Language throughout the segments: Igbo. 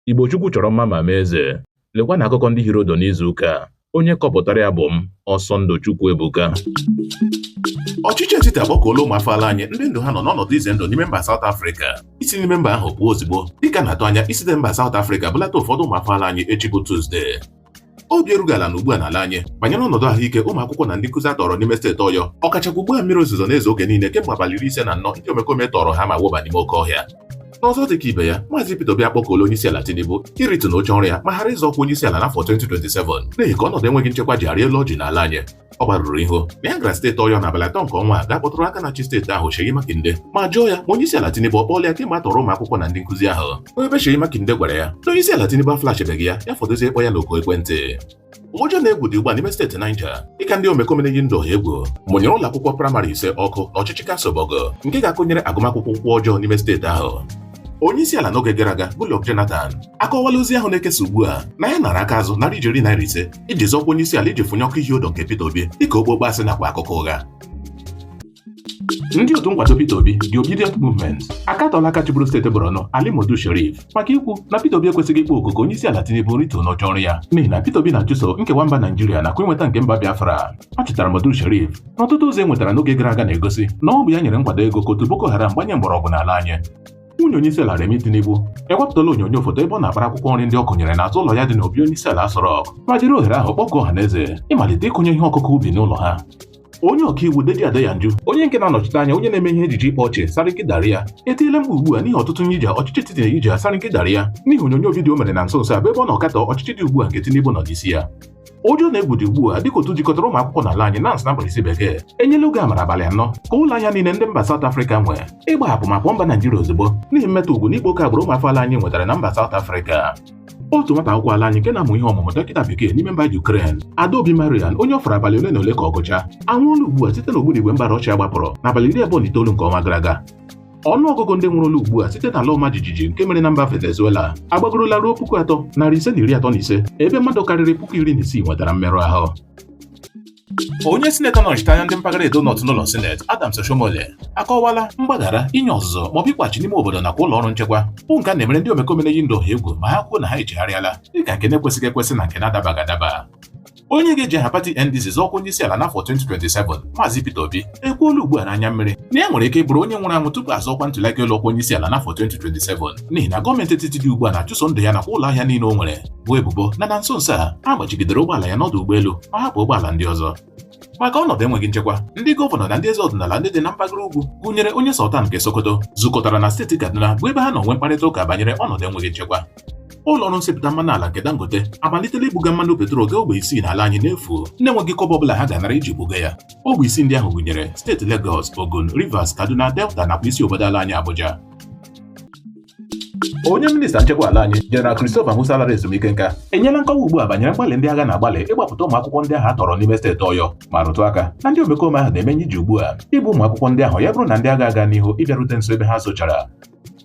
Igbo Chukwu chọrọ mma ma mee eze. Lekwa na akụkọ ndị hiri ụdụ n'izu ụka a. Onye kọpụtara ya bụ m, Ọsọndụ Chukwuebuka. Ọchịchị etiti akpọkuola ụmụ afọ ala anyị ndị ndụ ha nọ n'ọnọdụ ize ndụ n'ime mba South Africa isi n'ime mba ahụ pụọ ozugbo dịka a na-atụ anya isite mba South Africa bulata ụfọdụ ụmụ afọ ala anyị echi bụ Tuzdee obi erughị ala na ugbu a n'ala anyị banyere ọnọdụ ahụike ụmụ akwụkwọ na ndị nkụzi a tọrọ n'ime steeti ọyọ ọkachakwa ugbu a mmiri ozuzo na-ezo oge niile kemgbe abalị iri ise na anọ ndị omekome tọrọ ha ma wụba n'ime oke ọhịa n'ọzọ dị ka ibe ya maazị Peter Obi akpọkuola onyeisiala Tinubu iritu n'oche ọrụ ya ma ghara ịzọ ọkwa onyeisiala n'afọ 2027 n'ihi ka ọnọdụ enweghị nchekwa ji arị elu ọjị n'ala anyị ọ gbarụrụ ihu na ya gara steeti ọyọ n'abalị atọ nke ọnwa a gaa kpọtụrụ aka na-achị steeti ahụ Seyi Makinde ma jụọ ya ma onye isi ala Tinubu ọ kpọọla ya kemgbe a tọrọ ụmụ akwụkwọ na ndị nkụzi ahụ onye ebe Seyi Makinde gwara ya na onye isi ala Tinubu aflashebeghị ya ya fọdụzie ịkpọ ya n'oku ekwentị ụjọ na egwu dị ugbu a n'ime steeti Niger dịka ndị omekome na-eyi ndụ ọha egwu mụnyere ụlọ akwụkwọ praịmarị ise ọkụ n'ọchịchị kansụl Borgu nke ga-akụnyere agụmakwụkwọ ụkwụ ọjọọ n'ime steeti ahụ onye isi ala n'oge gara aga Goodluck Jonathan akọwala ozi ahụ na-ekesa ugbu a na ya nara aka azụ narị ijeri naira ise iji zọọ ọkwa onye isi ala iji fụnyụọ ọkụ ihi ụdụ nke Peter Obi dịka okpokpo asị nakwa akụkọ ụgha ndị otu nkwado Peter Obi The Obidient Movement akatọla aka chịburu steeti Borno Ali Modu Sheriff maka ikwu na Peter Obi ekwesịghị ịkpọ oku ka onye isi ala Tinubu rituo n'oche ọrụ ya n'ihi na Peter Obi na-achụso nkewa mba Naijiria nakwa inweta nke mba Biafra a chọtara Modu Sheriff Ọtụtụ ozi e nwetara n'oge gara aga na-egosi na ọ bụ ya nyere nkwado ego ka otu Boko Haram gbanye mgbọrọgwụ n'ala anyị. Nwunye onyeisiala Remi Tinubu ewepụtala onyonyo foto ebe ọ na-akpara akwụkwọ nri ndị ọ kụnyere n'azụ ụlọ ya dị n'obi onyeisiala Aso Rock ma jiri ohere ahụ kpọkuo ọha na eze ịmalite ịkụnye ihe ọkụkụ ubi n'ụlọ ha. Onye ọkaiwu Deji Adeyanju onye nke na-anọchite anya onye na-eme ihe ejije ịkpa ọchị Sarkin Dariya etiela mkpu ugbu a n'ihi ọtụtụ nye ije ọchịchị etiti na-eyi ije Sarkin Dariya n'ihi onyonyo vidiyo o mere na nso nso a bụ ebe ọ na-akatọ ọchịchị dị ugbu a nke Tinubu nọ n'isi ya. ụjọ na egwu dị ugbu a dịka otu jikọtara ụmụ akwụkwọ n'ala anyị NANS na mkpirisi bekee enyela oge amara abalị anọ ka ụlọ ahịa niile ndị mba South Africa nwe ịgbahapụ ma pụọ mba Naijiria ozugbo n'ihi mmetọ ugwu na ịkpa oke agbụrụ ụmụafọ ala anyị nwetara na mba South Africa otu nwata akwụkwọ ala anyị nke na-amụ ihe ọmụmụ dọkịta bekee n'ime mba Ukraine Adaobi Marian onye ọ fọrọ abalị ole na ole ka ọ gụchaa anwụọla ugbu a site n'ogbunigwe mba Rọshia gbapụrụ n'abalị iri abụọ na itoolu nke ọnwa gara aga ọnụ ọgụgụ ndị nwụrụla ugbu a site n'ala ọma jijiji nke mere na mba Venezuela agbagorola ruo puku atọ narị ise na iri atọ na ise ebe mmadụ karịrị puku iri na isii nwetara mmerụ ahụ onye sinetọ na-anọchite anya ndị mpaghara Edo North n'ụlọ sineti Adams Oshiomhole akọwala mgbaghara inye ọzụzụ maọbụ ịkwachi n'ime obodo nakwa ụlọ ọrụ nchekwa bụ nke a na-emere ndị omekome na-eyi ndụ ọha egwu ma ha kwuo na ha echegharịala dịka nke na-ekwesịghị ekwesị na nke na-adabaghị adaba onye ga-eji aha pati NDC zọọ ọkwa onyeisiala n'afọ 2027 Maazị Peter Obi ekwuola ugbu a n'anya mmiri na ya nwere ike bụrụ onye nwụrụ anwụ tupu a zọọ ọkwa ntuliaka elu ọkwa onyeisiala n'afọ 2027 n'ihi na gọọmenti etiti dị ugbu a na-achụso ndụ ya nakwa ụlọ ahịa niile o nwere boo ebubo na na nso nso a a gbachigidere ụgbọala ya n'ọdụ ụgbọelu ma hapụ ụgbọala ndị ọzọ maka ọnọdụ enweghị nchekwa ndị gọvanọ na ndị eze ọdịnala ndị dị na mpaghara ugwu gụnyere onye Sultan nke Sokoto zukọtara na steeti Kaduna bụ ebe ha nọ nwee mkparịta ụka banyere ọnọdụ enweghị nchekwa ụlọ ọrụ nsepụta mmanụ ala nke Dangote amalitela ibuga mmanụ petrol gaa ogbe isii n'ala anyị n'efu na-enweghị kọbọ ọbụla ha ga-anara iji buga ya ogbe isii ndị ahụ gụnyere steeti Lagos Ogun Rivers Kaduna Delta nakwa isi obodo ala anyị Abuja onye minista nchekwa ala anyị General Christopher Musa lara ezumike nka enyela nkọwa ugbu a banyere mgbalị ndị agha na-agbalị ịgbapụta ụmụ akwụkwọ ndị ahụ a tọrọ n'ime steeti Ọyọ ma rụtụ aka na ndị omekome ahụ na-emenye iji ugbu a igbu ụmụ akwụkwọ ndị ahụ ya bụrụ na ndị agha aga n'ihu ịbịarute nso ebe ha zochara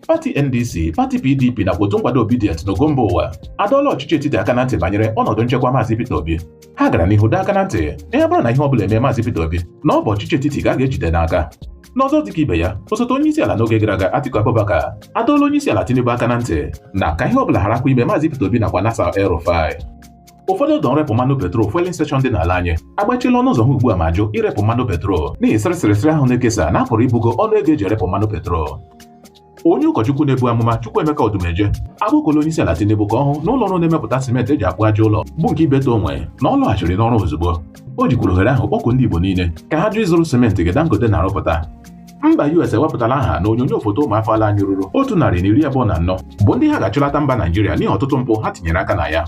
pati NDC pati PDP nakwa otu nkwado Obidient n'ogo mba ụwa adọọla ọchịchị etiti aka na ntị banyere ọnọdụ nchekwa Maazị Peter Obi ha gara n'ihu dọọ aka na ntị na ya bụrụ na ihe ọ bụla eme Maazị Peter Obi na ọ bụ ọchịchị etiti ka a ga-ejide n'aka n'ọzọ dịka ibe ya osote onye isi ala n'oge gara aga Atiku Abubakar adọọla onye isi ala Tinubu aka na ntị na ka ihe ọ bụla gharakwa ime Maazị Peter Obi nakwa Nasir El-Rufai ụfọdụ ọdọ nrepụ mmanụ petrol fueling station dị n'ala anyị agbachila ọnụ ụzọ ha ugbu a ma jụ irepụ mmanụ petrol n'ihi sịrịsịrịsịrị ahụ na-ekesa na a pụrụ ibugo ọnụ ego eji erepụ mmanụ petrol onye ụkọchukwu na-ebu amụma Chukwuemeka Odumeje agbakọla onye isi ala Tinubu ka ọ hụ na ụlọ ọrụ na-emepụta simenti eji akpụ aja ụlọ bụ nke Ibeto onwe na ọ lọghachiri n'ọrụ ozugbo o jikwuru ohere ahụ kpọkuo ndị Igbo niile ka ha jụ ịzụrụ simenti nke Dangote na-arụpụta mba US ewepụtala aha na onyonyo foto ụmụafọ ala anyị ruru otu narị na iri abụọ na anọ bụ ndị ha ga-achụlata mba Naijiria n'ihi ọtụtụ mpụ ha tinyere aka na ya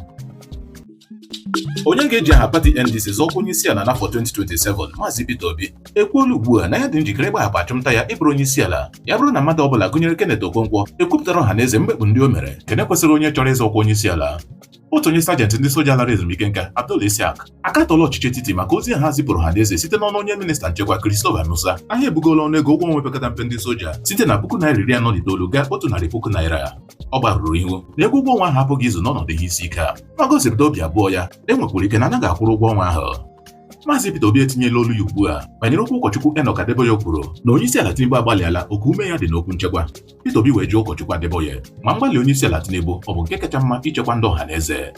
onye ga-eji aha pati NDC zọọ ọkwa onye isi ala n'afọ 2027 Maazị Peter Obi ekwuola ugbu a na ya dị njikere ịgbahapụ achụmnta ya ịbụrụ onye isi ala ya bụrụ na mmadụ ọbụla gụnyere Kenneth Okonkwo ekwupụtara ọha na eze mgbekpụ ndị o mere nke na-ekwesịghị onye chọrọ ịzọ ọkwa onye isi ala otu onye sajenti ndị soja lara ezumike nka Abdul Isiaq akatọla ọchịchị etiti maka ozi ha zipụrụ ọha na eze site n'ọnụ onye minista nchekwa Christopher Musa na ha ebugola ọnụ ego ụgwọ ọnwa pekata mpe ndị soja site na puku naira iri anọ na itoolu gaa otu narị puku naira ọ gbarụrụ ihu na ego ụgwọ ọnwa ahụ apụghị izu n'ọnọdụ ihe isi ike a ma gosipụta obi abụọ ya e nwekwara ike na anaghị akwụru ụgwọ ọnwa ahụ Maazị Peter Obi etinyela olu ya ugbu a banyere okwu ụkọchukwu Enoch Adeboye kwuru na onye isi ala Tinubu agbalịala oke ume ya dị n'okwu nchekwa Peter Obi wee jụọ ụkọchukwu Adeboye ma mgbalị onye isi ala Tinubu ọ bụ nke kacha mma ichekwa ndị ọha na eze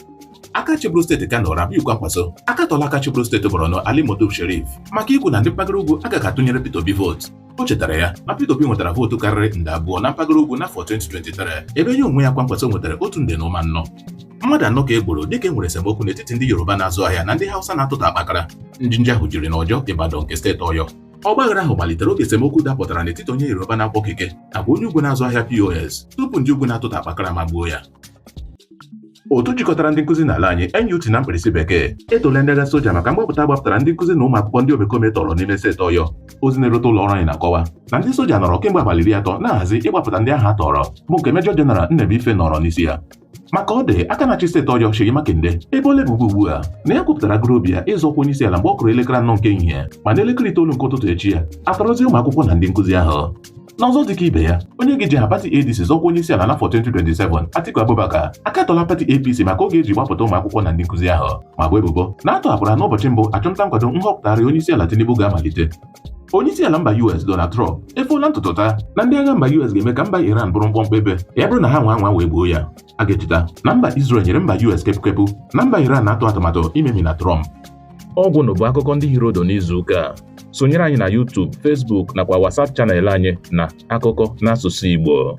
aka chịbụrụ steeti Kano Rabiu Kwankwaso akatọla aka chịbụrụ steeti Borno Ali Modu Sherif maka ikwu na ndị mpaghara ugwu agaghị atụnyere Peter Obi vootu o chetara ya na Peter Obi nwetara vootu karịrị nde abụọ na mpaghara ugwu n'afọ 2023 ebe ya onwe ya Kwankwaso nwetara otu nde na ụma anọ mmadụ anọ ka e gburu dịka e nwere esemokwu n'etiti ndị Yoruba na-azụ ahịa na ndị Hausa na-atụta akpakara njinji ahụ jiri n'Ọjọọ Ibadan nke steeti Ọyọ Ọgbaghara ahụ malitere oge esemokwu dapụtara n'etiti onye Yoruba na-akwọ keke nakwa onye ugwu na-azụ ahịa POS tupu ndị ugwu na-atụta akpakara magbuo ya. Otu jikọtara ndị nkụzi n'ala anyị NUT na mkpirisi bekee etola ndị agha soja maka mgbapụta gbapụtara ndị nkụzi na ụmụ akwụkwọ ndị omekome tọrọ n'ime steeti Ọyọ. Ozi na-erute ụlọ ọrụ anyị na-akọwa na ndị soja nọrọ kemgbe abalị iri atọ na-ahazi ịgbapụta ndị ahụ a tọrọ bụ nke Mejọ Jeneral Nnebuife nọrọ n'isi ya. maka ọ dị aka na-achị steeti ọyọ Seyi Makinde eboola ebubo ugbu a na ya kwupụtara gụrụ obi ya ịzọ ọkwa onyeisi ala mgbe ọ kụrụ elekere anọ nke ehihie ma na elekere itoolu nke ụtụtụ echi ya a tọrọzie ụmụ akwụkwọ na ndị nkụzi ahụ n'ọzọ dịka ibe ya onye ga-eji aha pati ADC zọọ ọkwa onye isi ala n'afọ 2027 Atiku Abubakar akatọla pati APC maka oge e ji gbapụta ụmụ akwụkwọ na ndị nkụzi ahụ ma bo ebubo na a tọhapụrụ ha n'ụbọchị mbụ achụmnta nkwado nhọpụtagharị onye isi ala Tinubu ga-amalite onye isi ala mba US Donald Trump efoola ntutu taa na ndị agha mba US ga-eme ka mba Iran bụrụ mkpọmkpọ ebe ya bụrụ na ha nwaa anwa wee gbuo ya a ga-echeta na mba Israel nyere mba US kepukepu na mba Iran na-atụ atụmatụ imemina Trump ọ gwụna bụ akụkọ ndị hiri ụdụ n'izu ụka a sonyere anyị na YouTube Facebook nakwa WhatsApp channel anyị na akụkọ n'asụsụ Igbo